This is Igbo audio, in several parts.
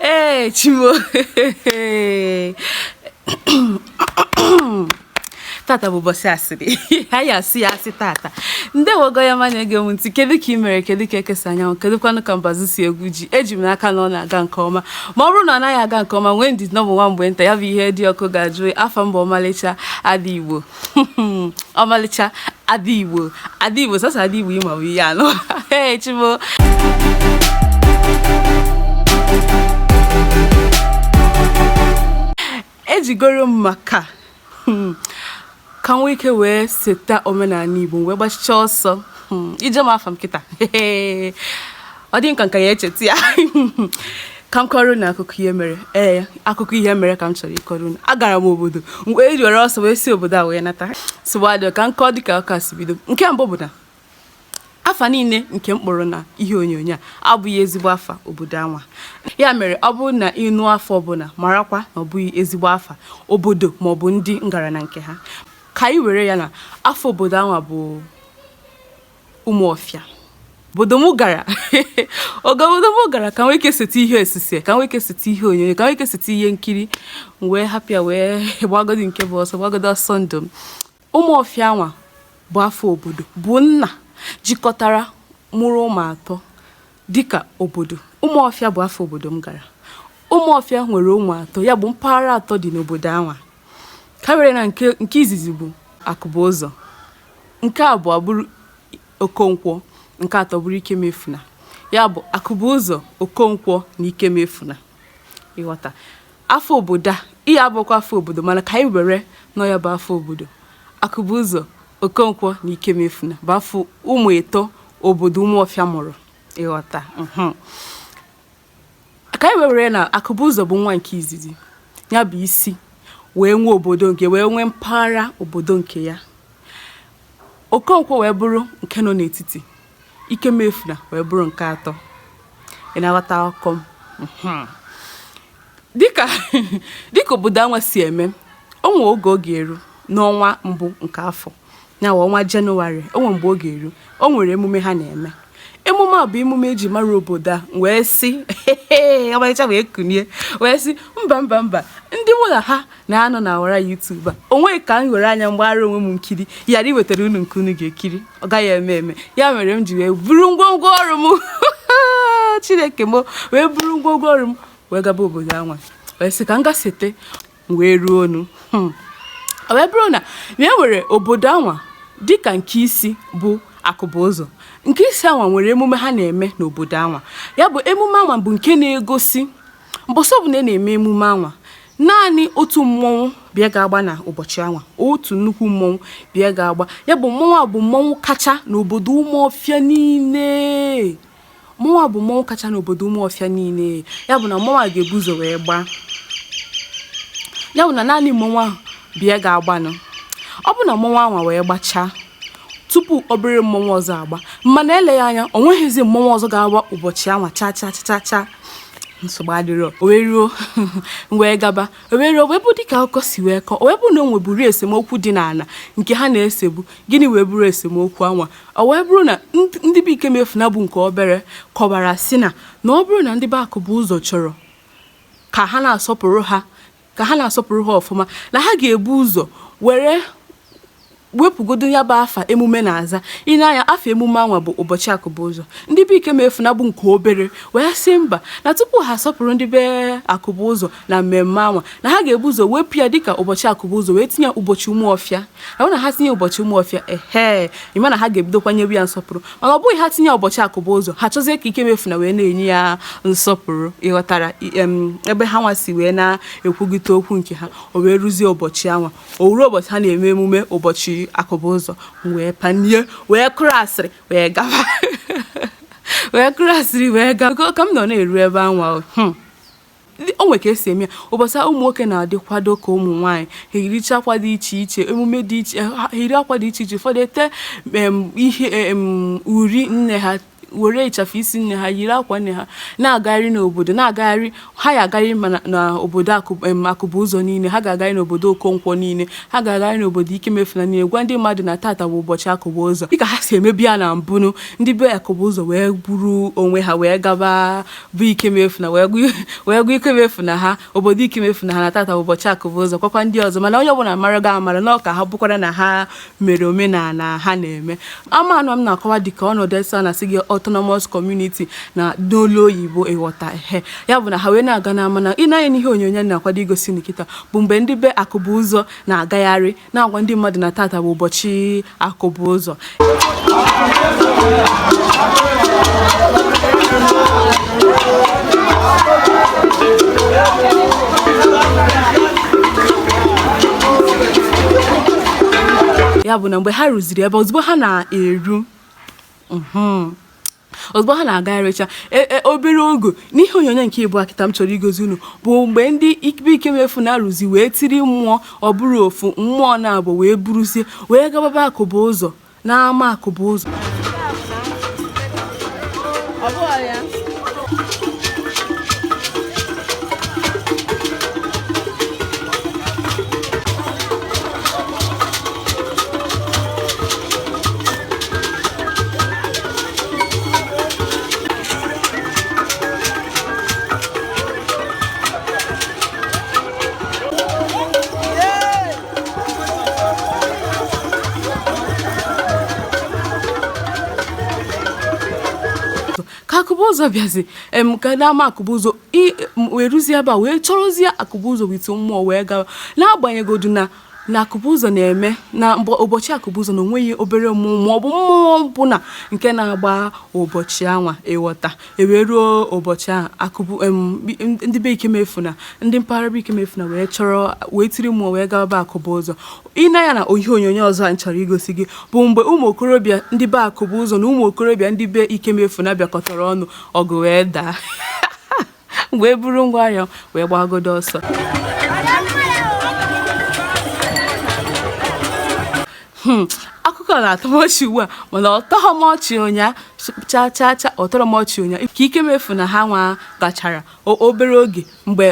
ee chimo tata bụ ụbọchị asịrị anyị asị ya asị tata ndeewo gị onye ọma na-ege m ntị kedu ka ị mere kedu ka eke si anya anwụ kedu kwanụ ka mbazụ si egwu ji eji m n'aka na ọ na-aga nke ọma ma ọ bụrụ na ọ naghị aga nke ọma nwee ndidi na ọ bụ nwa mgbe nta ya bụ ihe dị ọkụ ga-ajụ afa m bụ ọmalịcha ada igbo ọmalịcha ada igbo ada igbo sasa ada igbo ịma bụ ihe anụ ee chimo ejegoro m maka hmm, ka m nwee ike wee seta omenala igbo wee gbachichaa ọsọ hmm, ị jụọ m afa m kịta ọ dị m ka m ka ya echeta ya ka m kọrọ unu akụkọ ihe mere ee akụkọ ihe mere ka m chọrọ ịkọrọ unu agara m obodo wee were ọsọ wee si obodo a wee nata sịwadị ka m kọọ dịka ụka si bido nke mbụ bụ na afa niile nke m kpọrọ na ihe onyonyo a abụghị ezigbo afa obodo anwa ya mere ọ bụrụ na ị nụ afa ọbụla marakwa na ọ bụghị ezigbo afa obodo maọbụ ndị m gara na nke ha ka anyị were ya na afa obodo anwa bụ Umuofia obodo m gara obodo m gara ka m nwee ike seta ihe osise ka m nwee ike seta ihe onyonyo ka m nwee ike seta ihe nkiri wee hapụ ya wee gbagodi nke bụ ọsọ gbagodi ọsọ ndụ m Umuofia anwa bụ afa obodo bụ nna jikọtara mụrụ ụmụ atọ Dịka obodo, Ụmụọfịa bụ afa obodo m gara. Ụmụọfịa nwere ụmụ atọ, ya bụ mpaghara atọ dị n'obodo anwa. Ka were na nke izizi bụ Akụbụụzọ, nke abụọ bụrụ Okonkwo, nke atọ bụrụ Ikemefuna. Ya bụ Akụbụụzọ, Okonkwo na Ikemefuna. Ịghọta. Afa obodo a, ihe a abụkwa afa obodo mana ka anyị were na ọ ya bụ afa obodo. Akụbụzọ, Okonkwo na Ikemefuna bụ afa ụmụ ịtọ obodo Ụmụọfịa mụrụ. Ịghọta? Mhm. Ka anyị were na Akụbụzọ bụ nwa nke izizi, ya bụ isi, wee nwee obodo nke wee nwee mpaghara obodo nke ya. Okonkwo wee bụrụ nke nọ n'etiti. Ikemefuna wee bụrụ nke atọ. Ị na-aghọta akụkọ m? Mhm. Dịka obodo anwa si eme, o nwee oge ọ ga-eru n'ọnwa mbụ nke afọ, ya wụ ọnwa Jenụwarị, o nwee mgbe ọ ga-eru, o nwere emume ha na-eme. Emume a bụ emume eji mara obodo a wee sị ọmarịcha wee kunie wee sị mba mba mba ndị mụ na ha na-anọ na ọwara YouTube a o nweghị ka m were anya m gbaara onwe m nkiri yara iwetara unu nke unu ga-ekiri ọ gaghị eme eme ya mere m ji wee buru ngwongwo ọrụ m chineke m wee buru ngwongwo ọrụ m wee gaba obodo anwa wee sị ka m ga sete m wee ruo unu hmm. ọ wee bụrụ na na e nwere obodo anwa dịka nke isi bụ akụbụzọ nke isi anwa nwere emume ha na-eme n'obodo anwa ya bụ emume anwa bụ nke na-egosi mbọsị ọbụla na-eme emume anwa naanị otu mmọnwụ bụ ya ga-agba na ụbọchị anwa otu nnukwu mmọnwụ bụ ya ga-agba ya bụ mmọnwụ a bụ mmọnwụ kacha n'obodo ụmụọfịa niile mmọnwụ a bụ mmọnwụ kacha n'obodo ụmụọfịa niile ya bụ na mmọnwụ a ga-ebu ụzọ wee gbaa ya bụ na naanị mmọnwụ ahụ bụ ya ga-agbanụ ọ bụ na mmọnwụ anwa wee gbachaa tupu obere mmọnwụ ọzọ agba mana eleghị anya o nweghịzi mmọnwụ ọzọ ga-agba ụbọchị anwa cha cha cha cha nsogbu adịrọ o wee ruo wee gaba o wee ruo wee bụ dịka akụkọ si wee kọọ o wee bụ na o nweburu esemokwu dị n'ala nke ha na-esebu gịnị wee bụrụ esemokwu anwa o wee bụrụ na ndị be ikemefuna bụ nke obere kọbara sị na na ọ bụrụ na ndị be akụbụzọ chọrọ ka ha na-asọpụrụ ha ka ha na-asọpụrụ ha ọfụma na ha ga-ebu ụzọ were wepụgodo ya bụ afa emume na-aza ị na-anụ ya afa emume anwa bụ ụbọchị akụbụzọ ndị be ikemefuna bụ nke obere wee sị mba na tupu ha asọpụrụ ndị be akụbụzọ na mmemme anwa na ha ga-ebu ụzọ wepụ ya dịka ụbọchị akụbụzọ wee tinye ụbọchị ụmụọfịa ahụ na ha tinye ụbọchị ụmụọfịa ehe ị ma na ha ga-ebido kwanyewe ya nsọpụrụ mana ọ bụghị ha tinye ụbọchị akụbụzọ ha chọzie ka ikemefuna wee na-enye ya nsọpụrụ ị ghọtara ebe hanwa si wee na-ekwugote okwu nke ha o wee ruzie ụbọchị anwa o wee ruo ụbọchị ha na-eme emume ụbọchị akụbụzọ wee panie wee kụrụ asịrị wee gawa wee kụrụ asịrị wee gawa ka m nọ na-eru ebe anwa hmm. o nwere ka e si eme ya ụbọchị ụmụ nwoke na-adịkwado ka ụmụ nwaanyị ha eyiricha akwa dị iche iche emume dị iche ha eyiri akwa dị iche iche ụfọdụ ete ihe uri nne ha were ịchafụ isi nne ha yiri akwa nne ha na-agagharị n'obodo na-agagharị ha ya agagharị n'obodo akụbụzọ niile ha ga-agagharị n'obodo okonkwo niile ha ga-agagharị n'obodo ikemefuna niile gwa ndị mmadụ na tata bụ ụbọchị akụbụzọ dịka ha si emebu ya na mbụ nụ ndị be akụbụzọ wee buru onwe ha wee gaba be ikemefuna wee gwa ikemefuna ha obodo ikemefuna ha na tata bụ ụbọchị akụbụzọ gwakwa ndị ọzọ mana onye ọbụla mara ga-amara na ọka ha bụkwara na ha mere omenala ha na-eme amanụ m na-akọwa dịka ọnọdụ esa na sị gị autonomous community na n'olu oyibo ị ghọta ehe ya bụ na ha wee na-aga n'ama na ị nee anya n'ihe onyonyo na-akwado igosi unu kịta bụ mgbe ndị be akụbụzọ na-agagharị na-agwa ndị mmadụ na tata bụ ụbọchị akụbụ ụzọ ya bụ na mgbe ha ruziri ebe ozugbo ha na-eru mhm, ozugbo ha na-agagharịcha e, e, obere oge n'ihe onyonyo nke ịbụa kịta m chọrọ igosi unu bụ mgbe ndị be Ikemefuna ruzi wee tiri mmụọ ọ bụrọ ofu mmụọ naabọ wee buruzie wee gaba be akụbụ ụzọ n'ama akụbụ ụzọ ụzọ bịazi em ka n'ama akụbụzọ wee ruzie ebe a wee chọrọzie akụbụzọ with mmụọ wee gawa n'agbanyegodu na na akụbụzọ na-eme na mgbe ụbọchị akụbụzọ na onweghị obere mmụọ ma ọ bụ mmụọ ọbụla nke na-agba ụbọchị anwa ị ghọta e wee ruo ụbọchị ahụ akụbụ em, bi- ndị be Ikemefuna ndị mpaghara be Ikemefuna wee chọrọ wee tiri mmụọ wee gawa be akụbụ ụzọ ịna ya na ihe onyonyo ọzọ a m chọrọ igosi gị bụ mgbe ụmụ okorobịa ndị be akụbụ ụzọ na ụmụ okorobịa ndị be Ikemefuna bịakọtara ọnụ ọgụ wee daa wee buru ngwa ahịa wee gbagodo ọsọ hmm, akụkọ na-atọ m ọchị ugbu a mana ọ tọghọ m ọchị ụnyaa cha cha cha ọ tọrọ m ọchị ụnyaa ka Ikemefuna ha nwa gachara obere oge mgbe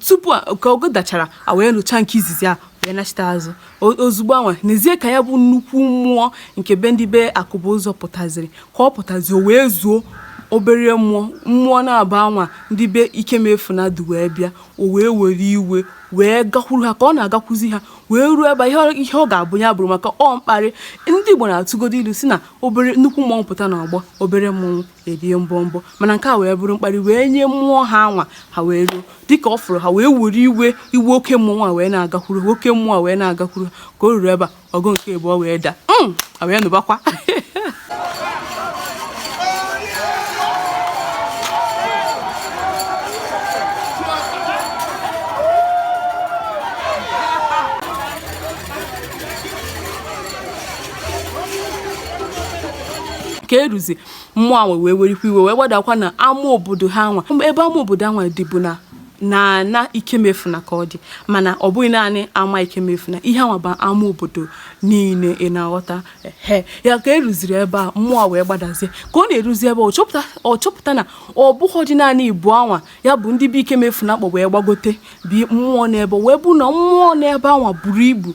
tupu ka ọgụ dachara a wee nụcha nke izizi a wee nachite azụ ozugbo anwa n'ezie ka ya bụ nnukwu mmụọ nke be ndị be akụbụ ụzọ pụtaziri ka ọ pụtazi o wee zuo obere mmụọ mmụọ naabọ anwa ndị be Ikemefuna du wee bịa o wee were iwe wee gakwuru ha ka ọ na-agakwuzi ha wee ruo ebe ihe ọ ga-abụ ya bụrụ maka ọ mkparị ndị Igbo na-atụgodo ilu sị na obere nnukwu mmọnwụ pụta na ọgbọ obere mmọnwụ erie mbọ mbọ mana nke a wee bụrụ mkparị wee nye mmụọ ha anwa ha wee ruo dịka ọ fụrụ ha wee were iwe iwe oke mmụọ a wee na-agakwuru oke mmụọ a wee na-agakwuru ka o ruru ebe a ọgụ nke abụọ wee daa hmm, a wee nụbakwa ka eruzi mmụọ anwa wee werikwa iwe wee gbadakwa na ama obodo ha nwa ebe ama obodo anwa dịbu na na na ikemefuna ka ọ dị mana ọ bụghị naanị ama ikemefuna ihe anwa bụ ama obodo niile ị na-aghọta he ya ka eruziri ebe a mmụọ wee gbadazie ka ọ na-eruzi ebe ọ chọpụta ọ chọpụta na ọ bụghịdị naanị ibu anwa ya bụ ndị be ikemefuna kpọ wee gbagote bi mmụọ n'ebe wee bụ na mmụọ n'ebe anwa buru ibu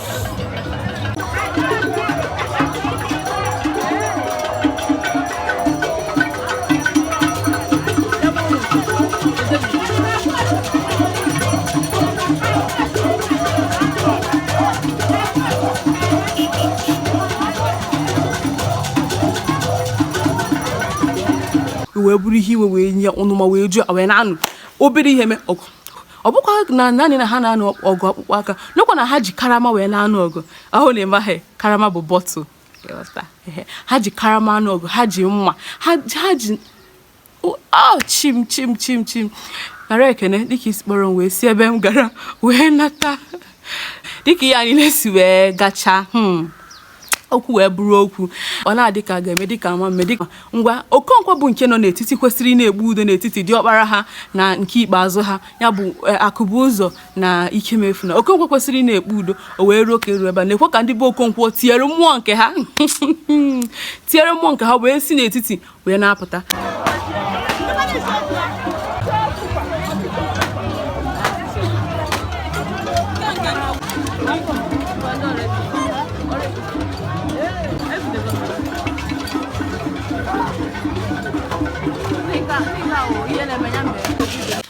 wee bụrụ ihe iwe wee nye ọnụma wee ju ha wee na-anụ obere ihe mee ọgụ ọ bụkwa na naanị na ha na-anụ ọgụ akpụkpọ aka n'okwa na ha ji karama wee na-anụ ọgụ ọ bụrụ na ị maghị karama bụ bọtụl ha ji karama anụ ọgụ ha ji mma ha ji oh, chi m chi m chi m chi m nara ekene dịka i si kpọrọ m wee si ebe m gara wee nata dịka ihe anyị na-esi wee gachaa hmm. okwu wee bụrụ okwu ọ na-adị ka a ga-eme dịka ama mme dịka ngwa okonkwo bụ nke nọ n'etiti kwesịrị ị na-ekpe udo n'etiti diọkpara ha na nke ikpeazụ ha ya bụ eh, akụbụzọ na ikemefuna okonkwo kwesịrị ị na-ekpe udo o wee ruo ka eru ebe a na-ekwu ka ndị be okonkwo tiri mmụọ nke ha tiri mmụọ nke ha wee si n'etiti wee na-apụta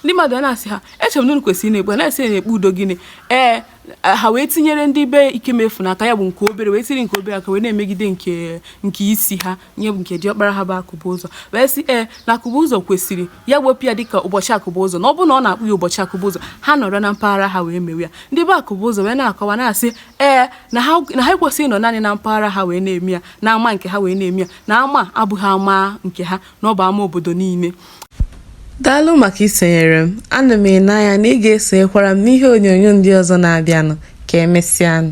ndị mmadụ a na-asị ha echere m na unu kwesịrị na-ekpe na-esi na-ekpe udo gịnị ee ha wee tinyere ndị be ikemefuna aka ya bụ nke obere wee tiri nke obere aka wee na-emegide nke nke isi ha ya bụ nke diọkpara ha bụ akụbụzọ wee sị ee na akụbụzọ kwesịrị ya wepụ ya dịka ụbọchị akụbụzọ na ọ bụrụ na ọ na-akpọ ya ụbọchị akụbụzọ ha nọrọ na mpaghara ha wee mewe ya ndị be akụbụzọ wee na-akọwa na-asị ee na ha na ha ekwesịghị ịnọ naanị na mpaghara ha wee na-eme ya na ama nke ha wee na-eme ya na ama abụghị ama nke ha na ọ bụ ama obodo niile daalụ maka isonyere m ana m ene anya na ị ga-esonyekwara m n'ihe onyonyo ndị ọzọ na-abịanụ ka emesịanụ